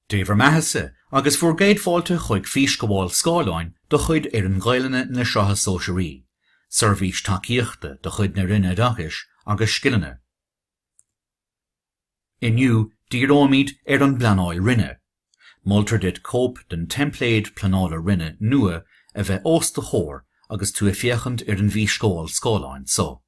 Dé bhur mbeathasa agus bhur gcéad fáilte chuig físghabháil scáileáin de chuid fhoireann Gaelainne na Sraithe Sóisearaí, seirbhís tacaíochta de chuid na Roinne Oideachais agus Scileanna. Inniu díreoimid ar an bpleanáil roinne. Moltar duit cóip den teimpléad pleanála roinne nua a bheith os do chomhair agus tú ag féachaint ar an bhfísghabháil scáileáin seo.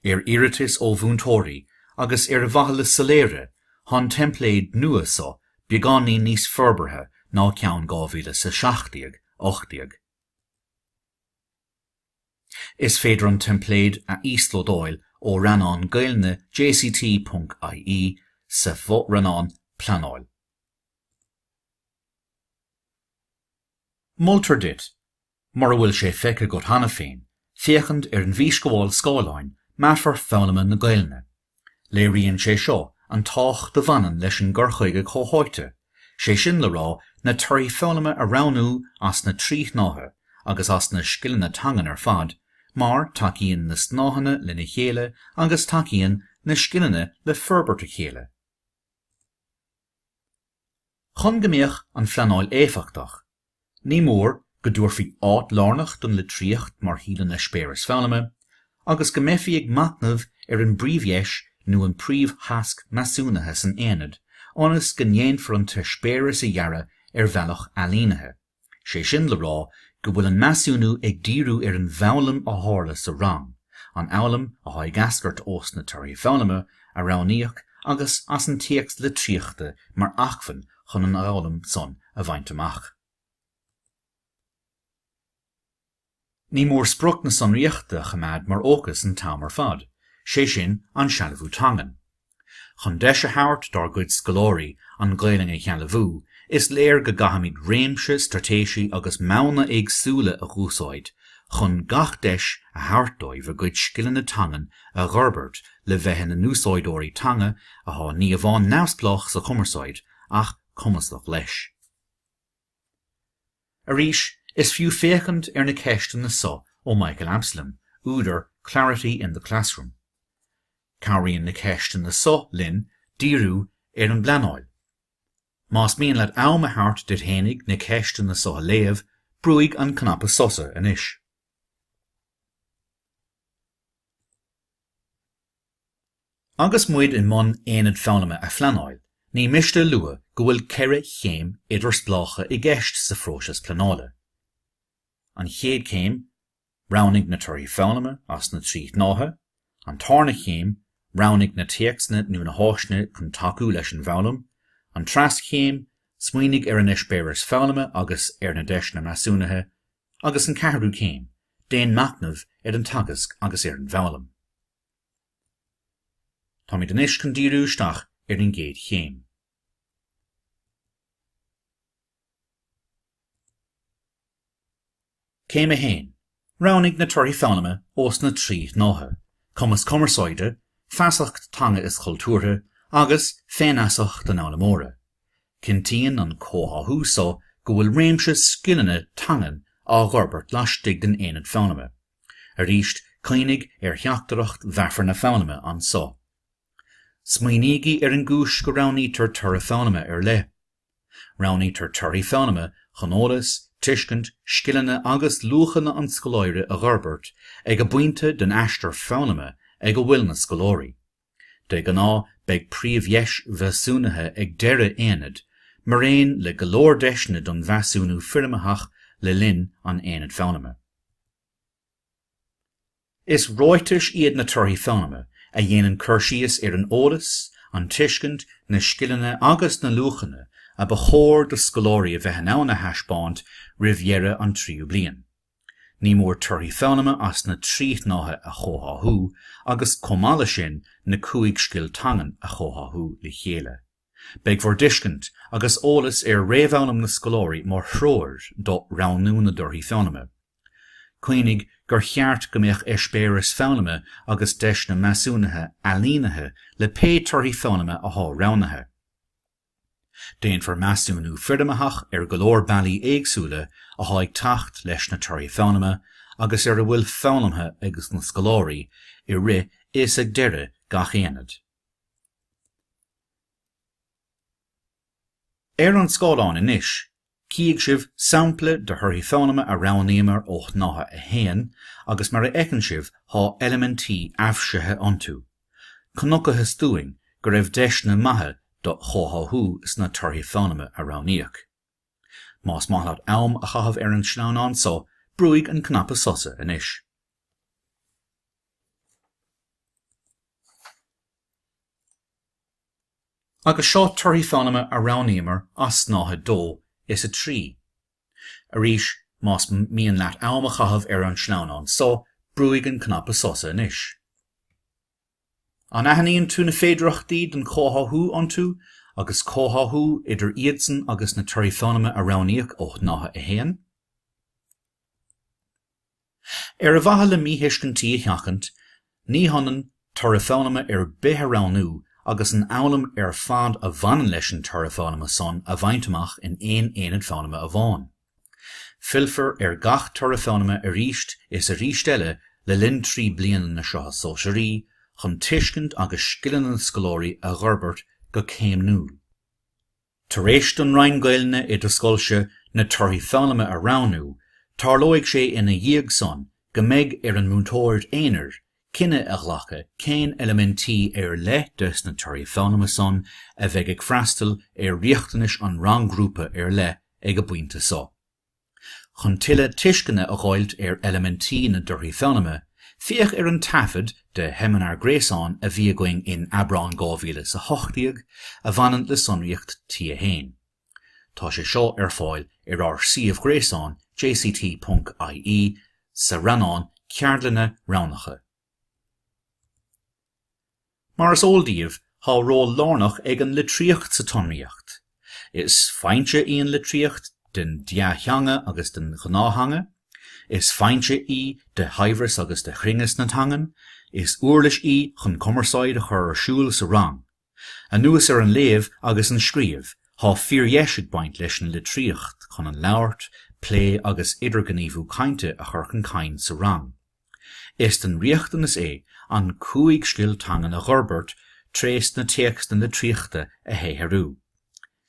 Ar iarratas ó mhúinteoirí agus ar mhaithe le soiléire, tá an teimpléad nua so beagáinín níos forbartha ná ceann 2017, 18. Is féidir an teimpléad a íoslódáil ó rannán Gaeilge jct.ie sa fho-rannán Pleanáil. Moltar duit Mura bhfuil sé feicthe agat cheana féin, féachaint ar an bhfísghabháil scáileáin Meafar Foghlama na Gaelainne. Léiríonn sé seo an tábhacht a bhaineann leis an gcur chuige comhtháite, sé sin le rá na torthaí foghlama a roghnú as na trí shnáithe agus as na scileanna teangan ar fad mar tacaíonn na snáitheanna lena chéile agus tacaíonn na scileanna le forbairt a chéile. Chun go mbeadh an phleanáil éifeachtach, ní mór go dtabharfaí áit lárnach don litríocht mar shuíomh don eispéireas foghlama agus go mbeifí ag machnamh ar an bpríomhdheis nó an príomhthasc measúnaithe san aonad ionas go ndéanfar an t-eispéireas a dhearadh ar bhealach ailínithe. Sé sin le rá go bhfuil an measúnú ag díriú ar an bhfoghlaim a tharla sa rang, an fhoghlaim atá ag eascairt ós na torthaí foghlama a roghnaíodh agus as an téacs litríochta mar acmhainn chun an fhoghlaim san a bhaint amach. Ní mór sprioc na sonraíochta a choimeád mar fhócas an t-am ar fad, sé sin, an sealbhú teangan. Chun deis a thabhairt dár gcuid scoláirí an Ghaelainn a shealbhú, is léir go gcaithfimid réimse straitéisí agus modhanna éagsúla a dh'úsáid chun gach deis a thabhairt dóibh a gcuid scileanna teangan a dh'fhorbairt le bheith ina n-úsáideoirí teanga athá ní amháin neamhspleách sa chumarsáid ach cumasach leis. Arís, is fiú féachaint ar na ceisteanna so ó Michael Absalom, údar Clarity in the Classroom. Cabhraíonn na ceisteanna so linn díriú ar an bpleanáil. Más mian leat am a thabhairt duit fhéinig na ceisteanna so a léamh, brúigh an cnaipe sosa anois. Agus muid i mbun Aonad Foghlama a phleanáil, ní miste a lua go bhfuil ceithre chéim idirspleácha i gceist sa phróiseas pleanála. An chéad chéim, roghnaigh na torthaí foghlama as na trí shnáithe, an tarna chéim, roghnaigh na téacsanna nó na háiseanna chun tacú leis an bhfoghlaim, an treas chéim, smaoinigh ar an eispéireas foghlama agus ar na deiseanna measúnaithe, agus an ceathrú céim, déan machnamh ar an teagasc agus ar an bhfoghlaim. Táimid anois chun díriú isteach ar an gcéad chéim. Céim 1, Roghnaigh na torthaí foghlama as na trí shnáithe, cumas cumarsáide, feasacht teanga is chultúrtha, agus féinfheasacht an fhoghlaimeora. Cinntíonn an comhtháthú seo go bhfuil réimse scileanna teangan á bhforbairt laistigh den aonad foghlama. Arís, cuimhnigh ar theachtaireacht mheafar na foghlama anso. Smaoinígí ar an gcúis go roghnaítear toradh foghlama ar leith. Roghnaítear torthaí foghlama chun eolas, tuiscint, scileanna agus luachanna an scoláire a dh'fhorbairt ag an bpointe den aistear foghlama ag a bhfuil na scoláirí. De ghnáth beidh príomhdheis mheasúnaithe ag deireadh aonaid, maraon le go leor deiseanna don mheasúnú foirmitheach le linn an aonaid foghlama. Is ráitis iad na torthaí foghlama a dhéanann cur síos ar an eolas, an tuiscint, na scileanna agus na luachanna a ba chóir do scoláirí a bheith in ann a thaispeáint roimh dheireadh an tríú bliain. Ní mór torthaí foghlama as na trí shnáithe a chomhtháthú agus, chomh maith leis sin, na cúig scil teangan a chomhtháthú le chéile. Beidh bhur dtuiscint agus eolas ar réamhfhoghlaim na scoláirí mar threoir do roghnú na dtorthaí foghlama. Cuimhnigh gur cheart go mbeadh eispéireas foghlama agus deiseanna measúnaithe ailínithe le pé torthaí foghlama athá roghnaithe. Déanfar measúnú foirmitheach ar go leor bealaí éagsúla athá ag teacht leis na Torthaí Foghlama agus ar a bhfuil foghlamtha ag na scoláirí i rith is ag deireadh gach aonaid. Ar an scáileán anois Cífidh sibh sampla de thorthaí foghlama a roghnaíomar ó Shnáithe 1 agus mar a fheiceann sibh thá eilimintí aibhsithe iontu. Chonacthas dúinn go raibh deiseanna maithe do chomhtháthú sna torthaí foghlama a roghnaíodh. Más maith leat am a chaitheamh ar an sleamhnán so, brúigh an cnaipe sosa anois. Agus seo torthaí foghlama a roghnaíomar as snáithe 2 is 3. Arís, más mian leat am a chaitheamh ar an sleamhnán so, brúigh an cnaipe sosa anois. An aithníonn tú na féidearthachtaí don chomhtháthú iontu agus comhtháthú idir iadsan agus na torthaí foghlama a roghnaíodh ó shnáithe 1? Ar mhaithe le míthuiscintí a sheachaint, ní hionann toradh foghlama ar bith a roghnú agus an fhoghlaim ar fad a bhaineann leis an toradh foghlama san a bhaint amach in aon aonad foghlama amháin. Fillfear ar gach toradh foghlama arís is arís eile le linn trí bliana na Sraithe Sóisearaí chun tuiscint agus scileanna na scoláirí a dh'fhorbairt go céimniúil. Tar éis don roinn Gaelainne i do scoilse na torthaí foghlama a roghnú, tarlóidh sé ina dhiaidh san go mbeidh ar an múinteoir aonair cinneadh a ghlacadh cén eilimintí ar leith des na torthaí foghlama san a bheidh ag freastal ar riachtanais an rang-ghrúpa ar leith ag an bpointe so. Chun tuilleadh tuisceana a dh'fháilt ar eilimintí na dtorthaí foghlama, féach ar an taifead de sheimineár gréasáin a bhí againn in Aibreán 2018 a bhaineann le sonraíocht T1. Tá sé seo ar fáil ar ár suíomh gréasáin jct.ie sa rannán Ceardlanna Roghnacha. Mar is eol daoibh, thá ról lárnach ag an litríocht sa tsonraíocht. Is foinse í an litríocht den dea-theanga agus den ghnáth-theanga, is foinse í de shaibhreas agus de chruinneas na teangan, is uirlis í chun cumarsáid a chur ar siúl sa rang. Anuas ar an léamh agus an scríobh, thá fíordheis ag baint leis an litríocht chun an labhairt, plé agus idirghníomhú cainte a chur chun cinn sa rang. Is den riachtanas é an cúig scil teangan a dh'fhorbairt trés na téacsanna litríochta a shaothrú.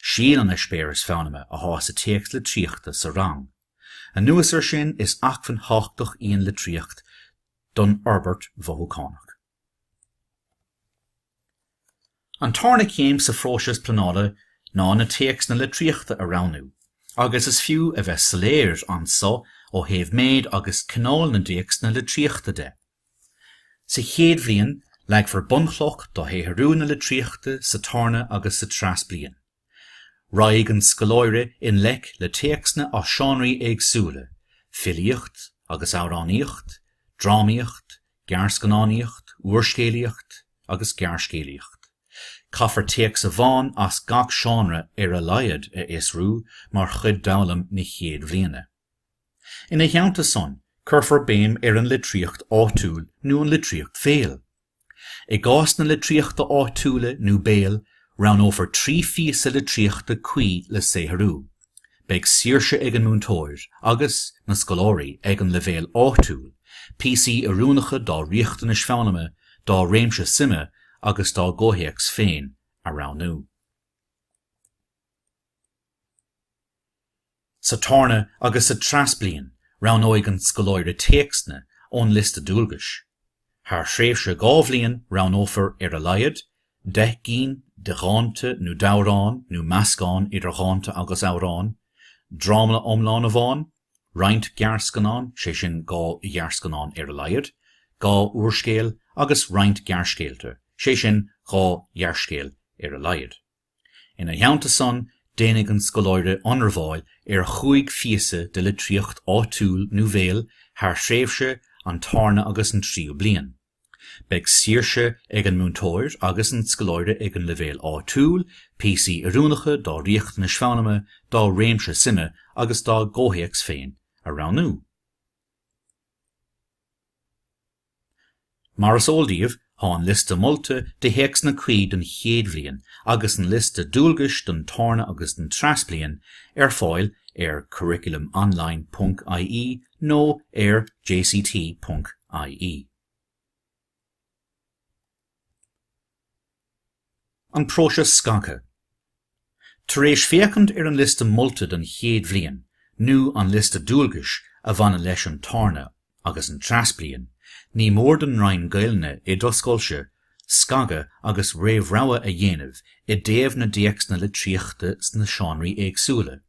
Síol an eispéiris foghlama athá sa téacs litríochta sa rang. Anuas ar sin is acmhainn thábhachtach í an litríocht don fhorbairt mhothúchánach. An tarna céim sa phróiseas pleanála ná na téacsanna litríochta a roghnú agus is fiú a bheith soiléir anso ó thaobh méid agus cineál na dtéacsanna litríochta de. Sa chéad bhliain leagfar bunchloch do shaothrú na litríochta sa tarna agus sa treas bliain. Raghaidh an scoláire i ngleic le téacsanna as seánraí éagsúla, filíocht agus amhránaíocht, drámaíocht, gearrscannánaíocht, úrscéalaíocht agus gearrscéalaíocht. Caithfear téacs amháin as gach seánra ar a laghad a fhiosrú mar chuid d'fhoghlaim na chéad bhliana. Ina theannta san, cuirfear béim ar an litríocht áitiúil nó an litríocht bhéil. I gcás na litríochta áitiúla nó béil, roghnófar trí phíosa litríochta cuí le saothrú. Beidh saoirse ag an múinteoir, agus na scoláirí ag an leibhéal áitiúil, píosaí oiriúnacha dá riachtanais foghlama, dá réimse suime agus dá gcomhthéacs féin a roghnú. Sa tarna agus sa treas bliain roghnóidh an scoláire téacsanna ón liosta dualgais. Thar thréimhse dhá bhliain roghnófar ar a laghad deich gcinn de dhánta nó d'amhráin nó meascán idir dhánta agus amhráin, dráma iomlán amháin, roinnt gearrscannán, sé sin dhá ghearrscannán ar a laghad, dhá úrscéal agus roinnt gearrscéalta, sé sin dhá ghearrscéal ar a laghad. Ina theannta san, déanfaidh an scoláire ionramháil ar chúig phíosa de litríocht áitiúil nó bhéil thar thréimhse an tarna agus an tríú bliain. Beidh saoirse ag an múinteoir agus an scoláire ag an leibhéal áitiúil píosaí oiriúnacha dá riachtanais foghlama, dá réimse suime agus dá gcomhthéacs féin a roghnú. Mar is eol daoibh, tá an liosta molta de théacsanna cuí don chéad bhliain agus an liosta dualgais don tarna agus don treas bliain ar fáil ar curriculumonline ponc ie nó ar jct ponc ie. An próiseas scagtha. Tar éis féachaint ar an liosta molta don chéad bhliain nó an liosta dualgais a bhaineann leis an tarna agus an treas bliain, ní mór don Roinn Gaelainne i do scoilse scagadh agus réamhrogha a dhéanamh i dtaobh na dtéacsanna litríochta sna seánraí éagsúla.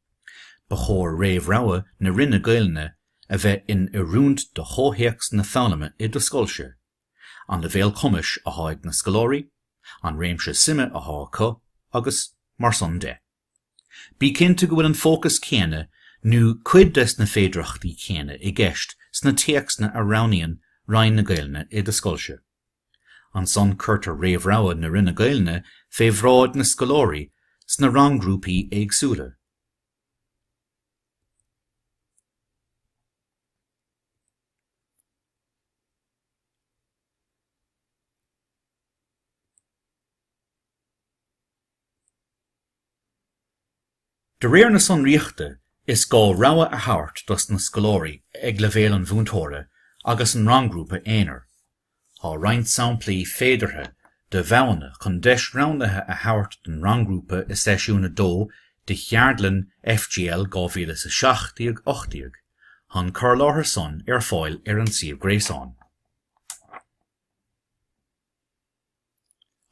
Ba chóir réamhrogha na Roinne Gaelainne a bheith in oiriúint do chomhthéacs na foghlama i do scoilse. an leibhéal cumais athá ag na scoláirí, an réimse suime athá acu agus mar san de. Bí cinnte go bhfuil an fócas céanna nó cuid des na féidireachtaí céanna i gceist sna téacsanna a roghnaíonn Roinn na Gaelainne i do scoilse. Ansan cuirtear réamhrogha na Roinne Gaelainne fé bhráid na scoláirí sna rang-ghrúpaí éagsúla. De réir na sonraíochta, is gá rogha a thabhairt dos na scoláirí ag leibhéal an mhúinteora agus an rang-ghrúpa aonair. Tá roinnt samplaí féideartha de mhodhanna chun deis roghnaithe a thabhairt don rang-ghrúpa i seisiún 2 de cheardlann FGL 2017 18. Tá an cur láthair san ar fáil ar an suíomh gréasáin.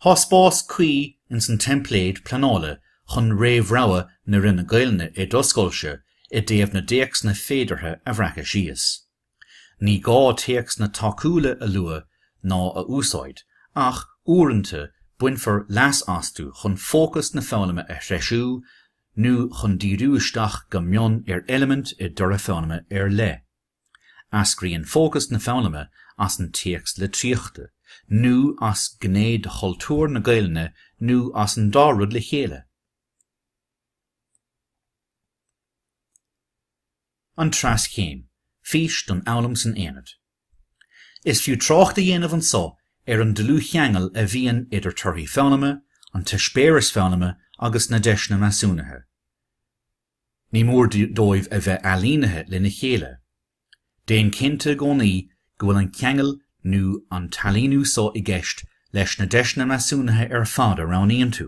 Tá spás cuí ins an teimpléad pleanála chun réamhrogha na Roinne Gaelainne i dtoscsoilse i dtaobh na dtéacsanna féideartha a bhreacadh síos. Ní gá téacsanna tacúla a lua ná a úsáid ach, uaireanta, bainfear leas astu chun fócas na foghlama a threisiú nó chun díriú isteach go mion ar eilimint i dtoradh foghlama ar leith. Eascraíonn fócas na foghlama as an téacs litríochta, nó as gné de chultúr na Gaelainne nó as an dá rud le chéile. An Treas Céim, Fís don Fhoghlaim san Aonad Is fiú trácht a dhéanamh anso ar an dlúthcheangal a bhíonn idir torthaí foghlama, an t-eispéireas foghlama agus na deiseanna measúnaithe. Ní mór dóibh a bheith ailínithe lena chéile. Déan cinnte i gcónaí go bhfuil an ceangal nó an t-ailíniú so i gceist leis na deiseanna measúnaithe ar fad a roghnaíonn tú.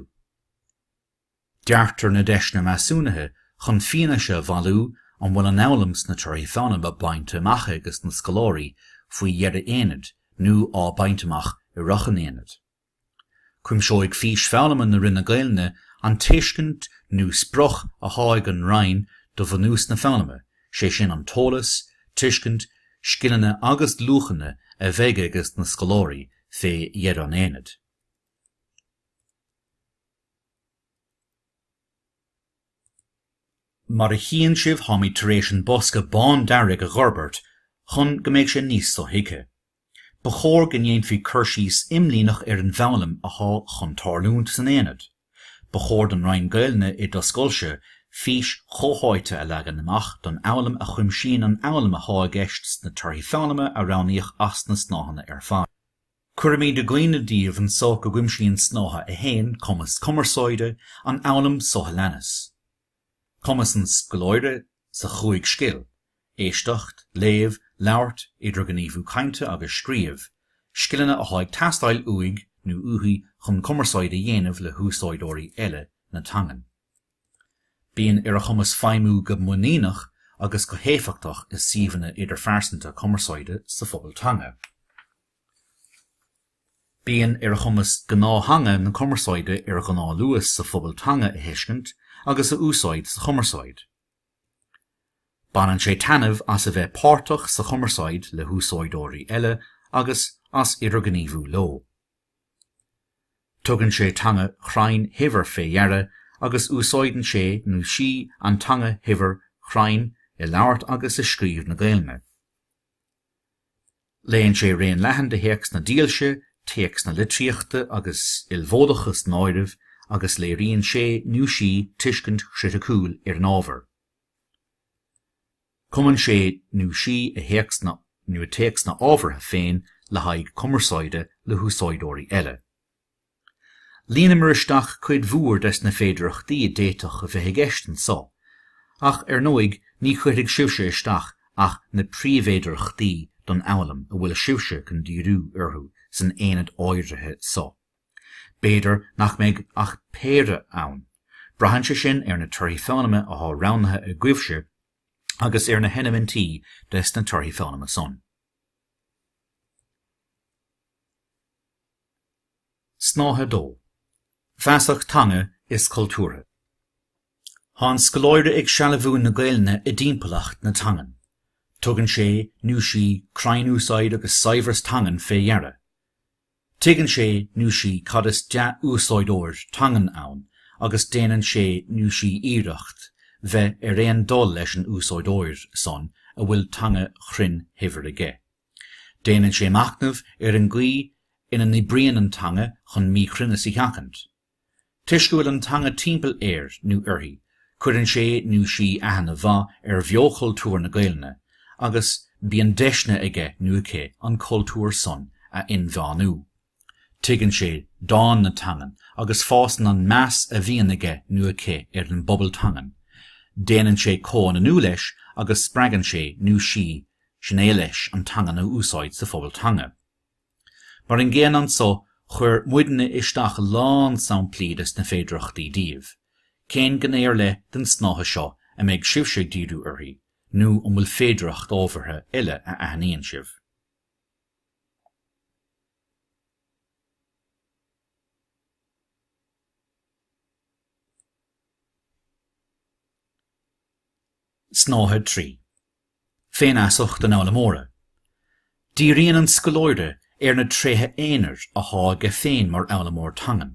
Deartar na deiseanna measúnaithe chun fianaise a bhailiú an bhfuil an fhoghlaim sna torthaí foghlama bainte amach ages na scoláirí faoi dheireadh aonaid nó á bhaint amach i rith an aonaid. Cuimseoidh fís foghlama na Roinne Gaelainne an tuiscint nó sprioc athá ag an Roinn do bhunús na foghlama, sé sin an t-eolas, tuiscint, scileanna agus luachanna a bheidh ages na scoláirí fé dheireadh an aonaid. Mar a chíonn sibh táimid tar éis an bosca bán dearg a dh'fhorbairt chun go mbeidh sé níos so-thuigthe. Ba chóir go ndéanfaí cur síos imlíneach ar an bhfoghlaim athá chun tarlúint san aonad. Ba chóir don Roinn Gaelainne i dtoscsoilse fís chomhtháite a leagan amach don fhoghlaim a chuimsíonn an fhoghlaim athá i gceist sna torthaí foghlama a roghnaíodh as na snáitheanna ar fad. Cuirimíd i gcuimhne díbh anso go gcuimsíonn Snáithe 1, Cumas Cumarsáide, an fhoghlaim so a leanas. Cumas an scoláire sa chúig scil, éisteacht, léamh, labhairt, idirghníomhú cainte agus scríobh, scileanna athá ag teastáil uaidh nó uaithi chun cumarsáid a dhéanamh le húsáideoirí eile na teangan. Bíonn ar a chumas feidhmiú go muiníneach agus go héifeachtach i suíomhanna idirphearsanta cumarsáide sa phobal teanga. Bíonn ar a chumas gnáth-theanga na cumarsáide ar ghnáthluas sa phobal teanga a thuiscint agus a úsáid sa chumarsáid. Baineann sé taitneamh as a bheith páirteach sa chumarsáid le húsáideoirí eile agus as idirghníomhú leo. Tugann sé teanga chruinn shaibhir fé dheara agus úsáideann sé nó sí an teanga shaibhir chruinn i labhairt agus i scríobh na Gaelainne. Léann sé raon leathan de théacsanna dílse, téacsanna litríochta agus ilmhódacha san áireamh, agus léiríonn sé nó sí tuiscint chriticiúil ar an ábhar. Cumann sé nó sí a théacsanna nó a téacsanna ábhartha féin le haghaidh cumarsáide le húsáideoirí eile. Líonamar isteach cuid mhór des na féidireachtaí a d'fhéadfadh a bheith i gceist anso, ach ar ndóigh ní chuirfidh sibhse isteach ach na príomhfhéidireachtaí don fhoghlaim a bhfuil sibhse chun díriú orthu san aonad áirithe so. B'fhéidir nach mbeidh ach péire ann. Braitheann sé sin ar na torthaí foghlama athá roghnaithe agaibhse agus ar na heilimintí des na torthaí foghlama san. Snáithe 2, Feasacht Teanga is Cultúrtha Thá an scoláire ag sealbhú na Gaelainne i dtimpeallacht na teangan. Tugann sé nó sí cruinnúsáid agus saibhreas teangan fé dheara. Tuigeann sé nó sí cad is dea-úsáideoir teangan ann agus déanann sé nó sí iarracht bheith ar aon dul leis an úsáideoir san a bhfuil teanga chruinn shaibhir aige. Déanann sé machnamh ar an gcaoi ina n-oibríonn an teanga chun míchruinneas a sheachaint. Toisc go bhfuil an teanga timpeall air nó uirthi, cuireann sé nó sí aithne mhaith ar bheochultúr na Gaelainne agus bíonn deiseanna aige nó aici an cultúr san a inmheánú. Tuigeann sé dán na teangan agus fásann an meas a bhíonn aige nó aici ar an bpobal teangan, déanann sé comhionannú leis agus spreagann sé nó sí sin é leis an teangan a úsáid sa phobal teanga. Mar an gcéanna anso, chuir muidne isteach a lán samplaí des na féidireachtaí daoibh. Cén gné ar leith den snáithe seo a mbeidh sibhse ag díriú uirthi nó an bhfuil féidireacht ábhartha eile a aithníonn sibh? Snáithe 3, Féinfheasacht an fhoghlaimeora Díríonn an scoláire ar na tréithe aonair athá aige féin mar fhoghlaimeoir teangan.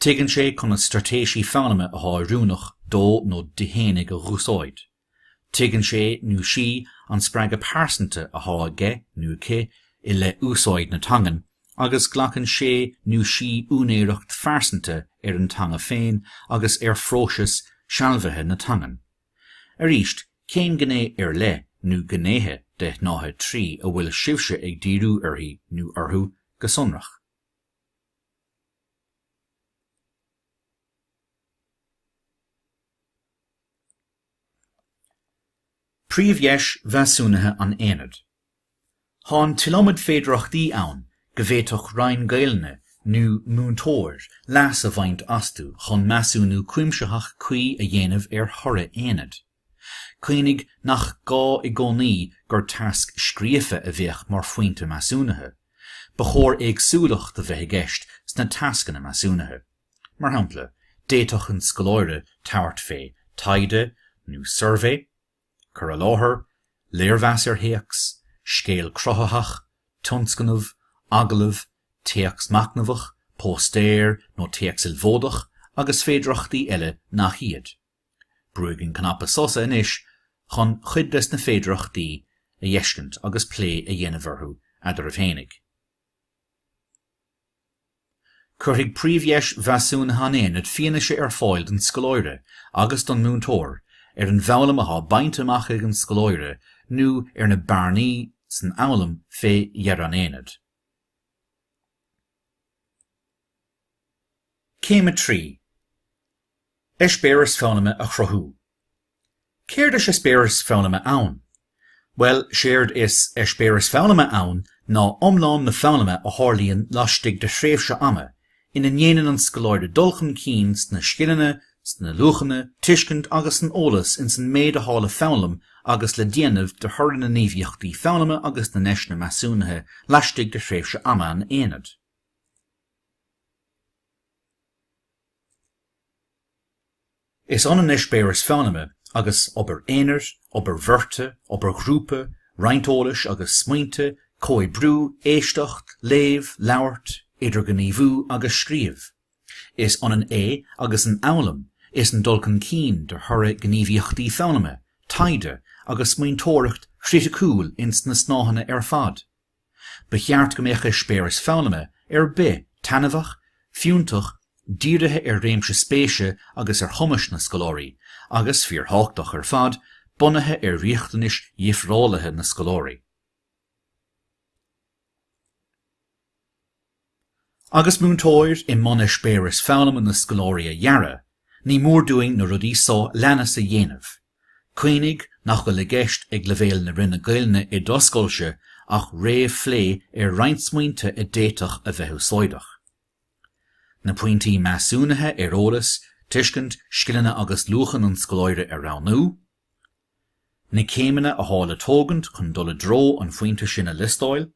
Tuigeann sé conas straitéisí foghlama athá oiriúnach dó nó di fhéinig a dh'úsáid. Tuigeann sé nó sí an spreagadh pearsanta athá aige nó aici i leith úsáid na teangan agus glacann sé nó sí úinéireacht phearsanta ar an teanga féin agus ar phróiseas sealbhaithe na teangan. Arís, cén gné ar leith nó gnéithe de shnáithe 3 a bhfuil sibhse ag díriú uirthi nó orthu go sonrach? Príomhdheis mheasúnaithe an aonaid. Tá an t-iliomad féidearthachtaí ann go bhféadfadh Roinn Gaelainne nó múinteoir leas a bhaint astu chun measúnú cuimsitheach cuí a dhéanamh ar thoradh aonaid. Cuimhnigh nach gá i gcónaí gur tasc scríofa a bheadh mar phointe measúnaithe, ba chóir éagsúlacht a bheith i gceist sna tascanna measúnaithe. Mar shampla, d'fhéadfadh an scoláire tabhairt fé taighde nó suirbhé, cur i láthair, léirmheas ar théacs, scéal cruthaitheach, tionscnamh, agallamh, téacs machnamhach, póstaer nó téacs ilmhódach agus féidearthachtaí eile nach iad. Brúigh an cnaipe sosa anois chun cuid des na féidearthachtaí a fheiscint agus plé a dhéanamh orthu eadraibh fhéinig. Cuirfidh príomhdheis mheasúnaithe an aonaid fianaise ar fáil don scoláire agus don múinteoir ar an bhfoghlaim atá bainte amach ag an scoláire nó ar na bearnaí san fhoghlaim fé dheireadh an aonaid. Céim 3, Eispéireas foghlama a chruthú. Céard is eispéireas foghlama ann? Bhuel, séard is eispéireas foghlama ann ná iomlán na foghlama a tharlaíonn laistigh de thréimhse ama ina ndéanann an scoláire dul chun cinn sna scileanna, sna luachanna, tuiscint agus san eolas ins an méid athá le foghlaim agus le déanamh de thoradh na ngníomhaíochtaí foghlama agus na ndeiseanna measúnaithe laistigh de thréimhse ama an aonaid. Is ionann eispéireas foghlama agus obair aonair, obair bheirte, obair ghrúpa, roinnt eolais agus smaointe, comhoibriú, éisteacht, léamh, labhairt, idirghníomhú agus scríobh. Is ionann é agus an fhoghlaim is an dul chun cinn de thoradh gníomhaíochtaí foghlama, taighde agus smaointeoireacht chriticiúil ins na snáitheanna ar fad. Ba cheart go mbeadh eispéireas foghlama ar bith taitneamhach, fiúntach, dírithe ar réimse spéise agus ar chumais na scoláirí, agus fíorthábhachtach ar fad, bunaithe ar riachtanais dhifreálaithe na scoláirí. Agus múinteoir i mbun eispéireas foghlama na scoláirí a dhearadh, ní mór dúinn na rudaí so leanas a dhéanamh, Cuimhnigh nach bhfuil i gceist ag leibhéal na Roinne Gaelainne i d'oscailte ach réamhphlé ar roinnt smaointe a d'fhéadfadh a bheith úsáideach. Na pointí measúnaithe ar eolas, tuiscint, scileanna agus luachan an scoláire a roghnú. Na céimeanna atá le tógaint chun dul i dtreo an phointe sin a liostáil.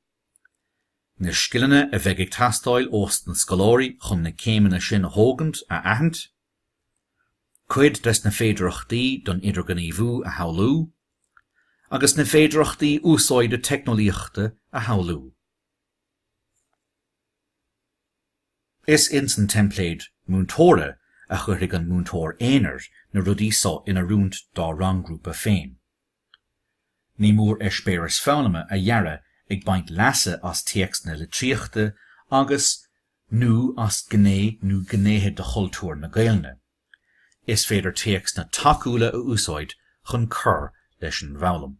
na scileanna a bheidh ag teastáil ós na scoláirí chun na céimeanna sin a thógaint a aithint, cuid des na féidireachtaí don idirghníomhú a shamhlú, agus na féidireachtaí úsáide teicneolaíochta a shamhlú. Is ins an teimpléad múinteora a chuirfidh an múinteoir aonair na rudaí so in oiriúint dá rang-ghrúpa féin. Ní mór eispéireas foghlama a dhearadh ag baint leasa as téacsanna litríochta agus, nó as gné nó gnéithe de chultúr na Gaelainne. Is féidir téacsanna tacúla a úsáid chun cur leis an bhfoghlaim.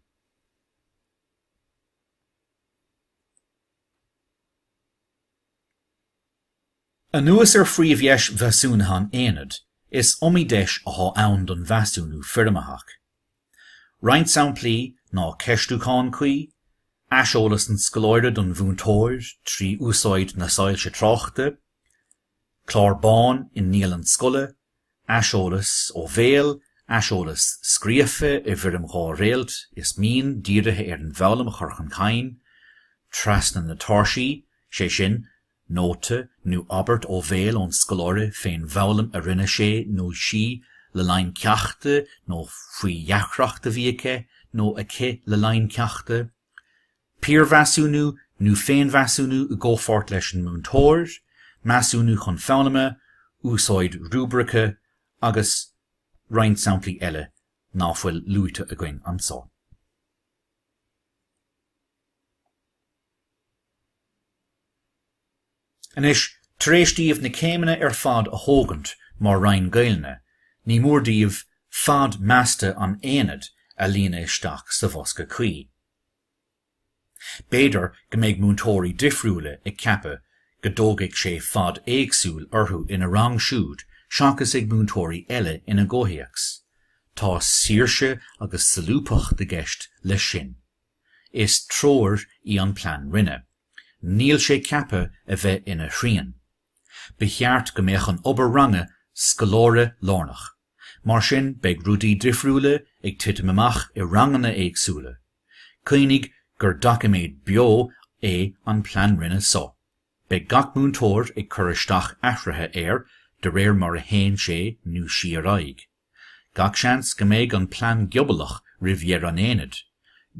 Anuas ar phríomhdheis mheasúnaithe an aonaid, is iomaí deis atá ann don mheasúnú foirmitheach. Roinnt samplaí ná ceistiúchán cuí, aiseolas an scoláire don mhúinteoir trí úsáid na soilse tráchta, clár bán i ndialann scoile, aiseolas ó bhéal, aiseolas scríofa i bhfoirm dhá réalt is mian dírithe ar an bhfoghlaim a chur chun cinn trasna na tairsí, sé sin, nóta nó abairt ó bhéal ón scoláire fén bhfoghlaim a rinne sé nó sí le linn ceachta nó faoi dheacracht a bhí aige nó aici le linn ceachta, piarmheasúnú nó féinmheasúnú i gcomhpháirt leis an múinteoir, measúnú chun foghlama, úsáid rúibrice agus roinnt samplaí eile ná fuil luaite againn anso. Anois, tar éis díbh na céimeanna ar fad a thógaint mar Roinn Gaelainne, ní mór díbh fad measta an aonaid a líonadh isteach sa bhosca cuí. B'fhéidir go mbeidh múinteoirí difriúla ag ceapadh go dtógfaidh sé fad éagsúil orthu ina rang siúd seachas ag múinteoirí eile ina gcomhthéacs. Tá saoirse agus solúbthacht i gceist leis sin. Is treoir í an plean roinne. Níl sé ceaptha a bheith ina shrian. Ba cheart go mbeadh an obair ranga scoláire lárnach. Mar sin beidh rudaí difriúla ag titim amach i ranganna éagsúla. Cuimhnigh gur doiciméad beo é an plean roinne so. Beidh gach múinteoir ag cur isteach athruithe air de réir mar a théann sé nó sí ar aghaidh. Gach seans go mbeidh an plean giobalach roimh dheireadh an aonaid,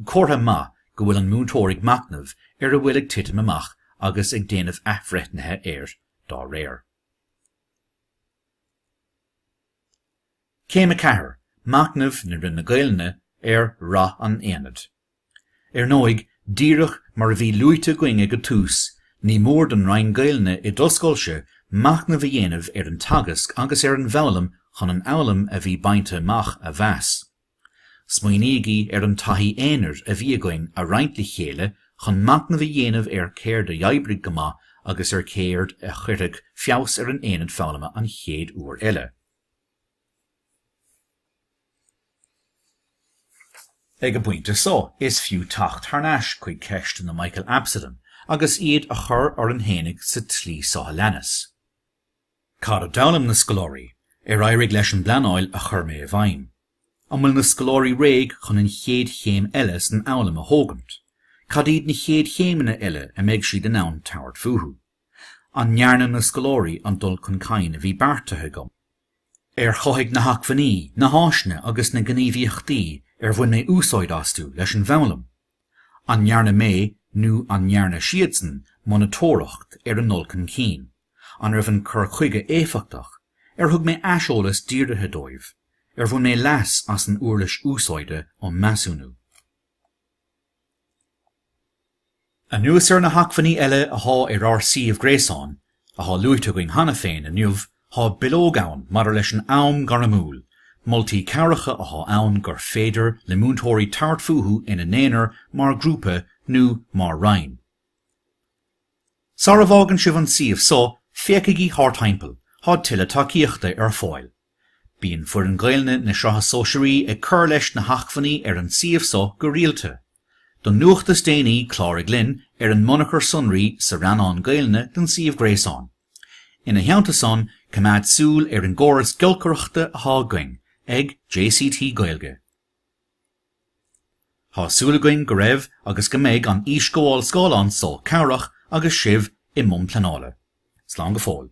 comhartha maith go bhfuil an múinteoir ag machnamh ar a bhfuil ag titim amach agus ag déanamh athbhreithnithe air dá réir. Céim 4, Machnamh na Roinne Gaelainne ar rath an aonaid. Ar ndóigh, díreach mar a bhí luaite againn ag an tús, ní mór don Roinn Gaelainne i do scoilse machnamh a dhéanamh ar an teagasc agus ar an bhfoghlaim chun an fhoghlaim a bhí bainte amach a mheas. Smaoinígí ar an taithí aonair a bhí againn a roinnt le chéile chun machnamh a dhéanamh ar céard a dh'oibrigh go maith agus ar céard a chuirfeadh feabhas ar an aonad foghlama an chéad uair eile. Ag an bpointe so, is fiú teacht thar n-ais chuig ceisteanna Michael Absolum agus iad a chur orainn fhéinig sa tslí so a leanas. Cad a d'fhoghlaim na scoláirí? Ar éirigh leis an bpleanáil a chuir mé i bhfeidhm? An bhfuil na scoláirí réidh chun an chéad chéim eile san fhoghlaim a thógaint? Cad iad na chéad chéimeanna eile a mbeidh siad in ann tabhairt fúthu? An ndearna na scoláirí an dul chun cinn a bhí beartaithe agam? Ar chothaigh na hacmhainní, na háiseanna agus na gníomhaíochtaí ar bhain mé úsáid astu leis an bhfoghlaim? An ndearna mé nó an ndearna siadsan monatóireacht ar a ndul chun cinn? An raibh an cur chuige éifeachtach? Ar thug mé aiseolas dírithe dóibh? Ar bhain mé leas as an uirlis úsáide um measúnú? Anuas ar na hacmhainní eile athá ar ár suíomh gréasáin, athá luaite againn cheana féin inniu, thá bileog ann maidir leis an am gairmiúil, moltaí cabhracha athá ann gur féidir le múinteoirí tabhairt fúthu ina n-aonar, mar ghrúpa nó mar roinn. Sara bhfágann sibh an suíomh so, féachaigí thart timpeall, thá tuilleadh tacaíochta ar fáil. Bíonn foireann Gaelainne na Sraithe Sóisearaí ag cur leis na hacmhainní ar an suíomh so go rialta. Don nuacht is déanaí cláraigh linn ar an mbunachar sonraí sa rannán Gaelainne den suíomh gréasáin. Ina theannta san coimeád súil ar an gcóras giolcaireachta athá againn ag JCT Gaeilge. Thá súil againn go raibh agus go mbeidh an íosghabháil scáileáin so cabhrach agus sibh i mbun pleanála. Slán go fóill.